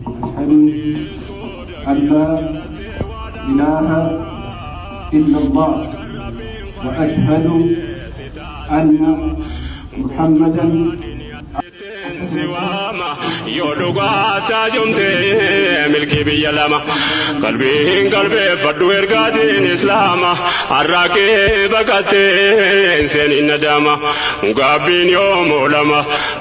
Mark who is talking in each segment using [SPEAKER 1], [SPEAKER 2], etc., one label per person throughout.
[SPEAKER 1] Ashhadu allaa ilaaha illallah wa ashhadu anna muhammadan
[SPEAKER 2] siwaama yoo dhugaa taajomte milkii biyya lama qalbiin qalbeeffadhu ergaatiin islaama har'aa kee baqattee seenin nadaama gaabbiin yoo moolama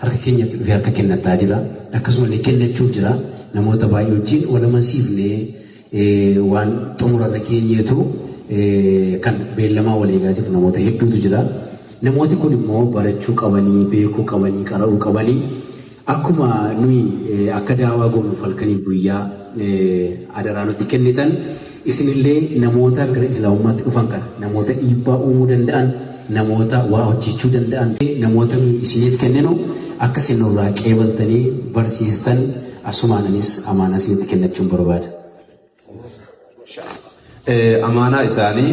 [SPEAKER 3] Harka keenyatti dhufee harka kennattaa jira. Akkasumallee kennachuuf jira. Namoota baay'ee wajjin wal amansiifnee waan xumurarra geenyeetu kan beellamaa wal eegaa jiru namoota hedduutu jira. Namooti kun immoo barachuu qabanii, beekuu qabanii, qara'uu qabanii akkuma nuyi akka daawaa goonu falkaniif guyyaa adaraa nutti kennitan Isin illee namoota gara Islaamummaatti dhufan kana, namoota dhiibbaa uumuu danda'an, namoota waa hojjechuu danda'an, namoota nuyi isiniif kenninu akka isin nurraa qeebaltanii barsiistan asumaan anis amaanaa isinitti kennachuun barbaada.
[SPEAKER 4] Amaanaa isaanii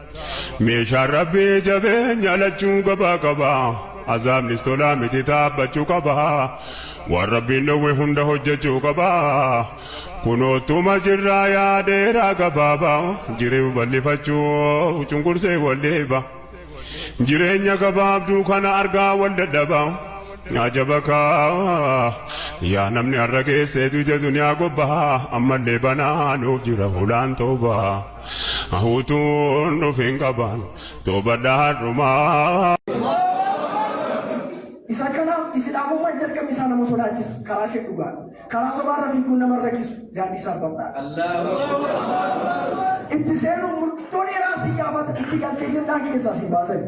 [SPEAKER 2] Meeshaan Rabbii jabeenya lachuu gabaa qaba. Azaabnis tolaa miti taabbachuu qaba. Waan Rabbiin dhowwe hunda hojjachuu qaba. Kunoottuma jirraa yaa dheeraa gabaaba. Jiriu bal'ifachuu cunqursee wal dheeba. Jireenya gabaabduu kana argaa wal dadhaba. Ajaba kaa yaa namni har'a geesse duja duniyaa gobba. Ammallee banaa nuuf jira hulaan towbaa. Utuun dhufin qabaan toobadha hadhumaa.
[SPEAKER 5] Isa kanaaf Islaamummaan jalqabni isaa nama sodaachisa. Karaa ishee dhugaadha. Karaa sobaa irra fiiguun nama hin rakkisu. Daandii isaaf bal'aadha. Itti seenuun murtoo dheeraa si gaafata. Itti galtee jennaan keessaa si hin baasani.